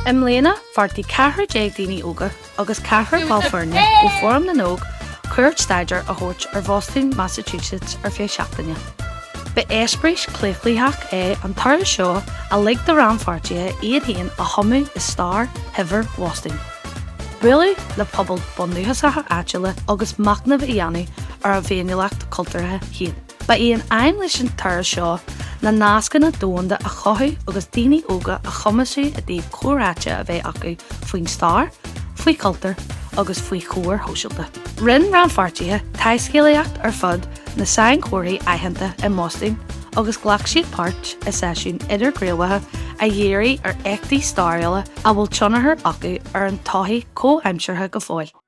I mbliana, bheartaigh ceathrar déag daoine óga agus ceathrar ball foirne ó Fóram na nÓg cuairt staidéir a thabhairt ar Bhostún, Massachusetts ar feadh seachtaine. Ba eispéireas claochlaitheach é an turas seo a lig do rannpháirtithe iad féin a thumadh i stair shaibhir Bhostúin, bualadh le pobail bundúchasacha áitiúla agus machnamh a dhéanamh ar a bhféiniúlacht chultúrtha féin. Ba í an aidhm leis an turas seo ná nascanna domhanda a chothú agus daoine óga a chumasú i dtaobh comhráite a bheith acu faoin stair, faoi chultúr agus faoi chóir shóisialta. Rinne rannpháirtithe taiscéalaíocht ar fud na sainchomharthaí aitheanta i mBostún agus ghlac siad páirt i seisiún idirghníomhaithe a dhírigh ar éachtaí stairiúla a bhfuil tionchar acu ar an tsochaí chomhaimseartha go fóill.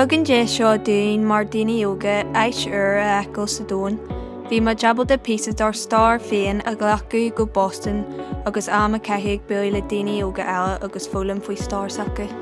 Thug an deis seo dúinn mar daoine óga áit úr a fheiceáil sa domhan. Bhí muid ábalta píosa dár stair féin a ghlacadh go Boston agus am a caitheamh ag bualadh le daoine óga eile agus foghlaim faoi stair s'acu.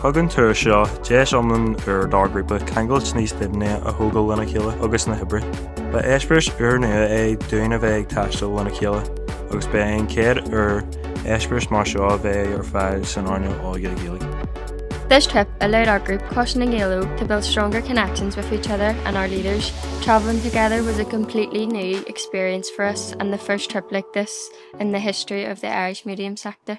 Thug an turas seo deis iomlán úr dár ghrúpa ceangailt níos doimhne a thógáil lena chéile agus na hoibrithe. Ba eispéireas úrnua é dúinn a bheith ag taisteal lena chéile agus ba é an chéad uair eispéireas mar seo a bheith ar fáil san earnáil óige Ghaeilge. This trip allowed our group, Coiste na nGael Óg, to build stronger connections with each other and our leaders. Travelling together was a completely new experience for us and the first trip like this in the history of the Irish medium sector.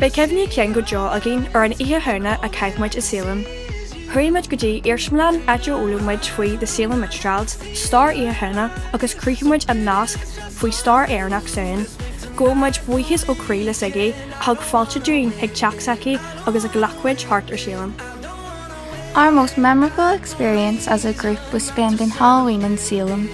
Beidh cuimhní cinn go deo againn ar an Oíche Shamhna a chaith muid i Salem. Chuaigh muid go dtí iarsmalann áit ar fhoghlaim muid faoi The Salem Witch Trials, stair Oíche Shamhna, agus chruthaigh muid an nasc faoi stair Éireannach Samhain. Gabhann muid buíochas ó chroí le Siggy, a thug fáilte dúinn chuig teach s'aici agus a ghlac muid thart ar Salem. Our most memorable experience as a group was spending Halloween in Salem.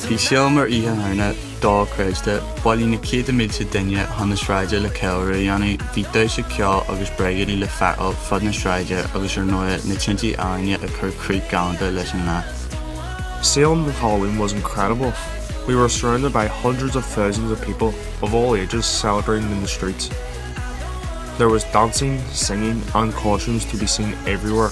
Bhí Salem ar Oíche Shamhna dochreidte, bhailigh na céadta mílte duine chun na sráide le ceiliúradh a dhéanamh. Bhí damhsa, ceol agus bréigéidí le feiceáil fud na sráide agus ar ndóigh na tintí ealaíne ag cur críoch ghalánta leis an lá. Salem at Halloween was incredible, we were surrounded by hundreds of thousands of people of all ages celebrating in the streets. There was dancing, singing and costumes to be seen everywhere.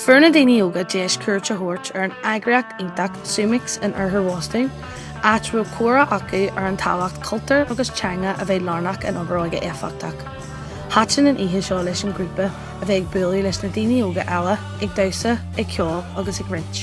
Fuair na daoine óga deis cuairt a thabhairt ar an eagraíocht iontach Zumix in Oirthear Bhostún, áit a raibh comhrá acu ar an tábhacht cultúr agus teanga a bheith lárnach in obair óige éifeachtach. Thaitin an oíche seo leis an ghrúpa a bheith ag bualadh leis na daoine óga eile, ag damhsa, ag ceol agus ag roinnt.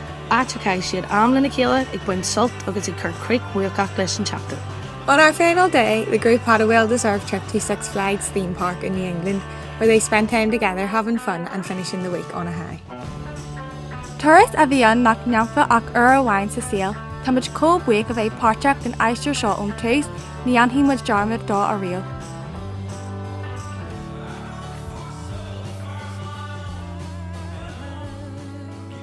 áit a chaith siad am lena chéile ag baint sult agus ag cur críoch bhuacach leis an tseachtain. On our final day, the group had a well-deserved trip to Six Flags theme park in New England, where they spent time together having fun and finishing the week on a high. Turas a bhí ann nach ndéanfá ach uair amháin sa saol. Táimid chomh buíoch a bheith páirteach den aistear seo ón tús, ní dhéanfaidh muid dearmad dó ariamh.